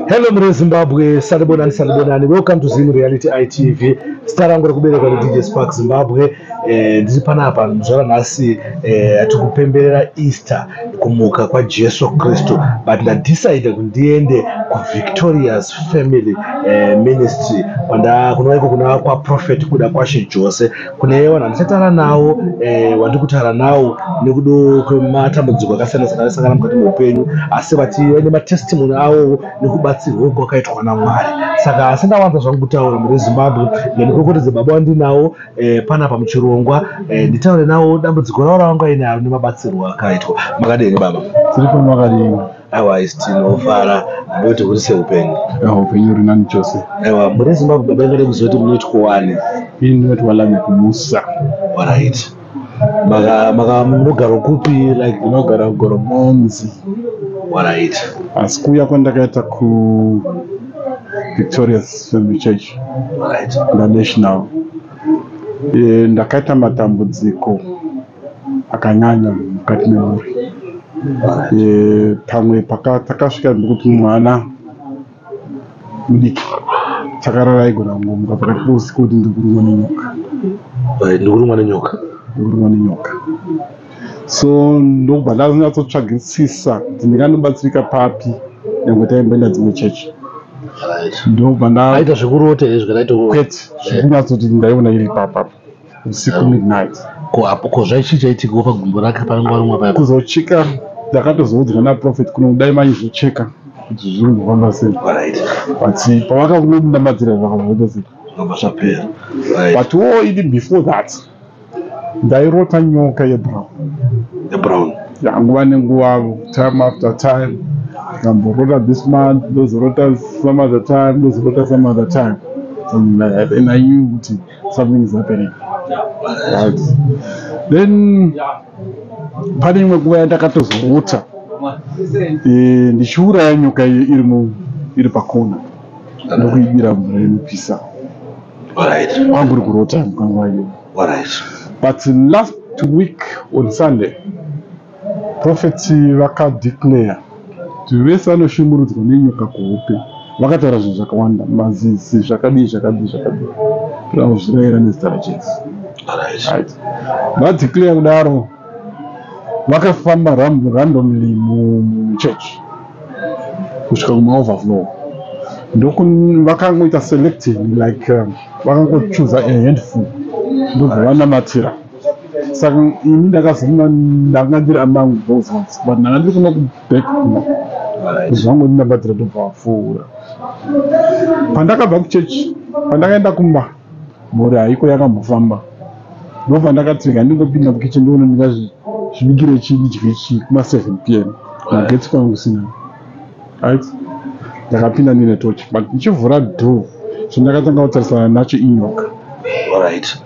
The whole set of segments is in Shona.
Hello mre Zimbabwe, salibonani salibonani. Welcome to Zim Reality ITV. Star rangu rekuberekwa ni DJ Spark Zimbabwe. Eh, ndiri panapa mzvara nhasi eh, tikupemberera Easter kumuka kwa Jesu Kristu but nda decide kuti ndiende ku Victorious Family eh, Ministry kwanda kunoiko kuna kwa Prophet kuda kwashe Jose kune vanhu vandichataura nawo eh, wandiri kutaura nawo nekudo kwematambudziko akasiyana siyana aisangana mukati meupenyu asi vati vaine matestimony awowo nekubatsirwa uko akaitwa namwari saka asi ndawanza zvangu kutaura mune zimbabwe nemikorokotedze baba wandinawo eh, panapa muchirongwa eh, nditaure nawo dambudziko ravo ravanga inaro nemabatsirwo akaitwa makadini baba tiri kumakadini awa isi tinofara ndoti huri seupenyu awa upenyu uri nani chose awa muri zimbabwe baba ingade kuzoti munoitwa wani ini ndinoti walanya kumusa orit maka munogaro kupi like ndinogara kugoro monzi orit asi kuuya kwandakaita ku victorious family church orit nda national eh, ndakaita matambudziko akanyanya mukati memhuri eh, pamwe takasvika nekuti mwana mudiki chakarara aigona kungomuka pakati pousiku kuti ndikurumwa nenyoka ndikurumwa nenyoka ndikurumwa nenyoka so ndokubva ndazonyatsotsvagisisa kuti ndinganobatsirika papi nyange taimboenda dzimwe chechi ndokubva ndaaita zvekurota izvi kana itokwete zvekunyatsoti ndaiona iri papapo usiku midnight ko apo ko zvaichi chaitika pa gumbo rake pa nguva rumwa paya kuzocheka ndakatozoudzwa na prophet kuno dai mai zvocheka kuti zvinhu zvofamba sei right but pavaka kuno ndamadzira zvakabva sei zvakabva zvapera right but wo idi before that ndairota nyoka ye brown ye brown yanguva nenguva time after time ndamborota this month ndozorota some other time ndozorota some other time and i knew kuti something is happening right then pane imwe nguva yandakatozorota eh, ndichiuraya nyoka iyo iri iri pakona ndokuibira mvura inopisa kwangu uri kurota mukanguva iyo but last week on sunday Prophet vakadeclare kuti vese vanoshungurudzwa nenyoka kuhope vakataura zvinhu zvakawanda mazizi zvakadii zvakadii zvakadii zvauzvirayira nezita rajesu right vadeclare kudaro vakafamba randomly muchurch kusvika kumaoverflow ndovakangoita selecting like um, vakangochuza a handful ndobva vanamatira saka ini ndakazonga ndanga ndiri amangu both but ndanga ndiri kuno kuback zvangu ndinabhadhira tobva vapfuura pandakabva kuchechi pandakaenda kumba mhuri haiko yakambofamba ndobva ndakati rega ndingopinda mukitchen ndiona ndingazvibikire chii dye chii kuma seven p m magetsi kwanga kusina right ndakapinda ndine tochi but ndichivhura door chandakatanga kutarisana nacho inyoka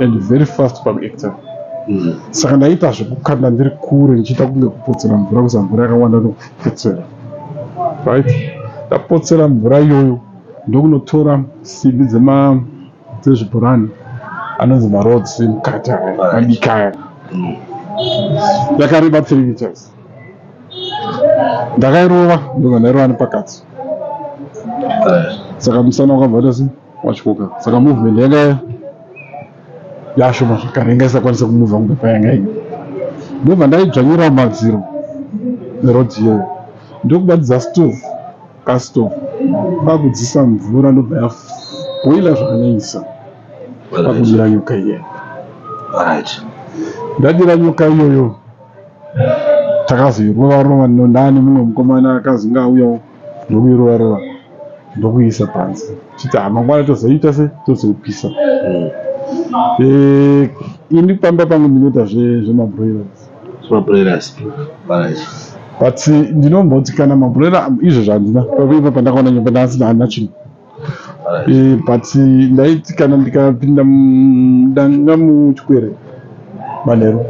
and very fast pakuactor mm. saka ndaiita zvekukanda ndiri kure ndichiita kunge kupotsera mvura kuza mvura yakawanda ndokupotsera right ndapotsera mvura iyoyo ndokunotora simbi dzezvibhurani anonzi maroads mukati aya madiki aya yakareba mm. three meters ndakairova ndobva ndairova nepakati saka musana wakabva tasi wachoka saka movement yanga yashoma zvakare yanga isakwanisa kumuvha kunge payanga ii ndobva ndaidzvanyira madziro nerodhi iyoyo ndokubatidza stove kastove kwakudzisa mvura ndobva yaboila zvakanyaisa pakudira nyoka iyoyo ndadira nyoka iyoyo takazoirova rova nondani mumwe mukomana akazi ngaauyawo ndokuirova rova ndokuisa panze chiti hamangwana ah, tozoita se tozoipisa mm. eh, ini pamba pangu ndinoita zvemabroilers zvemabroilers but ndinomboti kana mabroiler izvo zvandina pakuipa pandakaona nyomba ndasina hana chinhu Eh, but ndaiti kana ndikapinda ndanga muchikwere manheru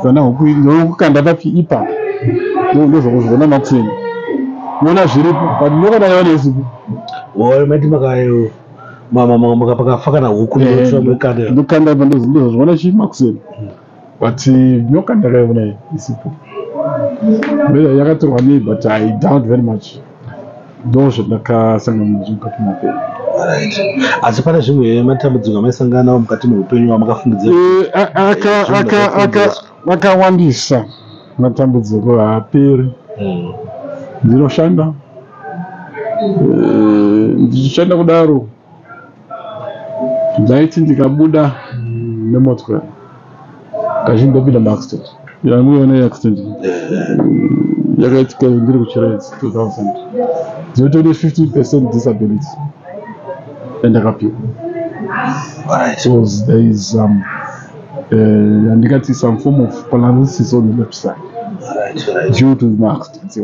kana ndokukanda papi ipa ndozvakuzvona matini nona zviripo but ndokana yava nezipo oyo maiti makayo mama makafa kana huku eh, ndokanda ipa ndozvona chii makuseni but nyoka ndakaiona isipo beza yakatorwa nei but i doubt very much ndo zvandakasangana nazvo mukati mapenyu asi pane zvimwe matambudziko amaisangana nawo mukati meupenyu wamakafungidzira akawandisa eh, matambudziko haaperi hmm. ndinoshanda eh, ndichishanda kudaro ndaiti ndikabuda nemotokari kazhinji ndopinda maaccident yangu yona yeaccident yakaitika ndiri kuchiraids 2000 ndinotone 50 percent disability yandakapiwa because there is um, uh, yandikati some form of paralysis on the left side due to maaccidents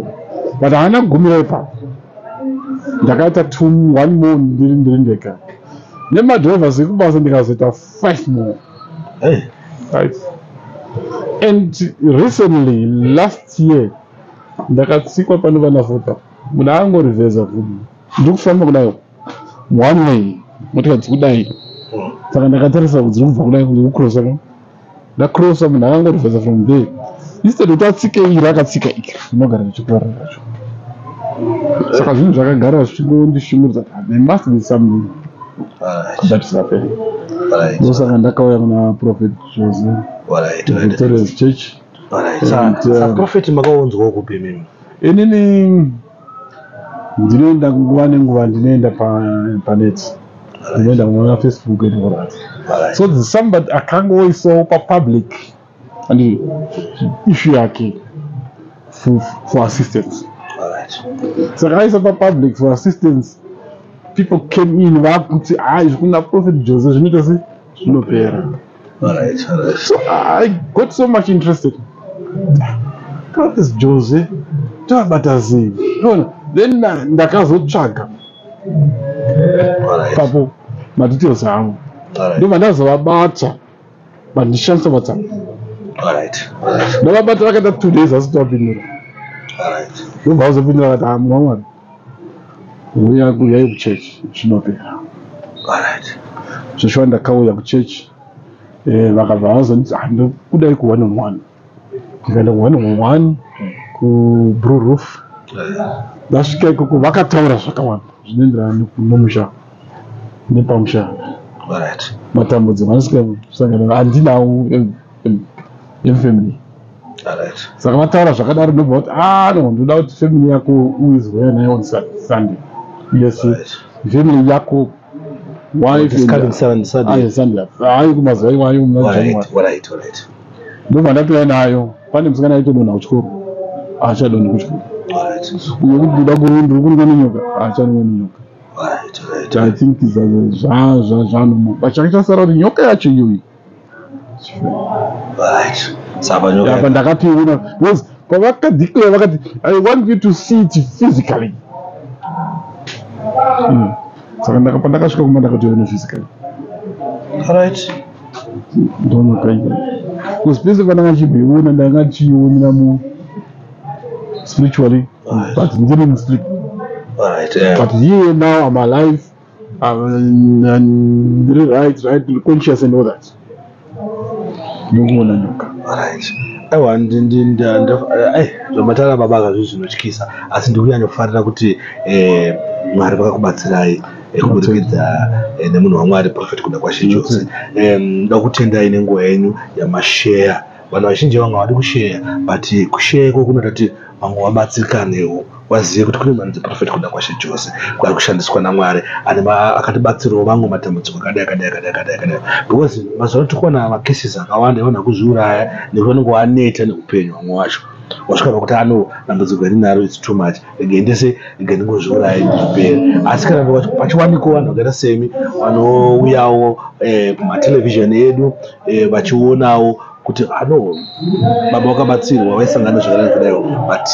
but haana kugumira ipapo ndakaita two one more ndiri ndiri ndega nemadrivers ekubasa ndikazoita five more hey. right. and recently last year ndakatsikwa pane vana vota muna angorivheza kuti ndiri kufamba kudai one way motika dzikudai saka ndakatarisa kuti dziri kubva kudai kuti kucrosa ndacrossa munhu akangorivhesa from there instead kuti atsike iri akatsika iri inogara richikora racho saka zvinhu zvakagara zvichingondishungurudza there must be something that is happening ndosaka ndakauya kuna prophet jose victorious church prophet makaunzwawo kupi mimi inini ndinoenda nguva nenguva ndinoenda panet ndinoenda kuona facebook etikudaro so somebody akanga oisawo papublic and issue yake for assistance saka aisa papublic for assistance people came in vakuti haa izvi kuna prophet jose zvinoita sei zvinopera so i got so much interested what is jose tabata zii ona then ndakazotsvaga papo madetails avo ndobva ndazovabata vandishandisa whatsapp ndavabata vakaita two days asi tavapindura ndobva vazopindura vati amwamwana ah, Huya huyai kuchurch zvinopera. Alright. Zveshuwa ndakauya kuchurch eh, vakabva vazonditi ah, ndokudai ku one on one. Ndikaenda ku one on one ku Blue Roof. Ndasvika ikoko vakataura zvakawanda zvinoenderana nomusha nepamusha. Alright. Matambudziko andisika sangana andinawo yefamily saka vataura zvakadaro ndobva kuti ah no ndoda kuti family yako uizweya nayo on sunday yes family yako wifeayi kumazuva iwayo ndobva ndatouya nayo pane musikana aitodonha kuchikoro achadonhi kuchikoro uyo kuti ndoda kurundi ndiri kunwa nenyoka achanwa nenyoka i think zvaanomo but chakachasara kuti nyoka yacho iyoyi apa ndakatoiona because pavakadeclare vakati i want you to see it physically hmm. saka pandakasvika kumba ndakatoiona physically right ndonakaia because pese pandanga chibeiona ndanga chiionera mu spiritually but ndiri musleep but here now am alive and, and right right conscious and all that ndokuona nyoka aiwa zvamatara baba kazvi zvinotyisa asi ndikunyanyofara kuti eh, mwari vakakubatsirai eh, kuburikidza eh, nemunhu wamwari profet kuda kwashe chose ndoda kutendai nenguva yenyu yamasheya vanhu vazhinji vanga vadi kusheya but kusheya iko kunoita kuti vamwe vabatsirikanewo vazive kuti kune mhando dzeprofet kuda kwashe jose kwari kushandiswa namwari ane akatibatsirawo vamwe matambudziko akadai akadai akadai akadai akadai because mazuva ano tikuona macases akawanda evanhu akuzviuraya nekuti vanenge waneta neupenyu vamwe wacho wasvika pakuti ano dambudziko iri naro its too much regai ndese regai ndingozviurayi ndipere asi kana ndikati pachiwaniko vanhu vakaita semi vanouyawo eh, kumatelevhizheni edu eh, vachionawo kuti ano baba wakabatsirwa waisangana zvakanaka kudaiwo but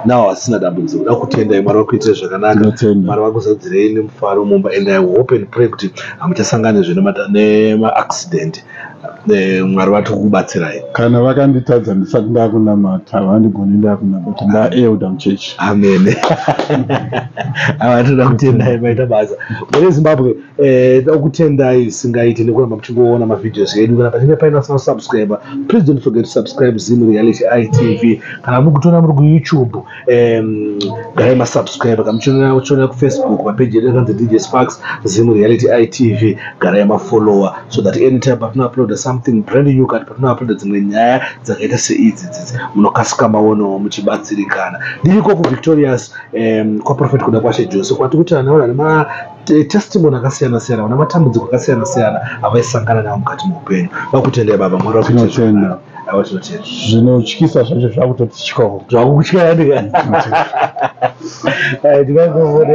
nawo vasina dambudziko da kutendai mwari vakuitire zvakanaka Tinotenda. mwari vakuzadzirei nemufaro mumba and i hope and pray kuti hamuchasanganizve nemaaccident Eh, mwari vati kukubatsirai kana vakanditadza ndisati ndakunamata havandigoni ndakunamata ndaelder muchechi amene avatoda kutendai maita basa mune zimbabwe eh, toda kutendai singaiti nekuramba muchingoona mavideos edu kana pachinge paina sina subscriber please don't forget to subscribe zim reality itv kana mukutoona muri kuyoutube um, dai masubscribe kamuchionera kuchionera kufacebook mapeji edu akanzi dj sparks zim reality itv garai mafollower so that anytime patinouploada something brand new kana patinouploada dzimwe nyaya dzakaita seidzi dzidzi munokasika maonawo muchibatsirikana ndiriko kuvictorious um, kwaprofet kuda kwashe jose kwati kuti anaona nema eh, testimony akasiyana siyana vana matambudziko akasiyana siyana avaisangana navo mukati meupenyu vakutendai baba mwari vakutinotenda zvinotyisa zvacho zvakutotityawo zvakukutyaya ndika ndikaivovore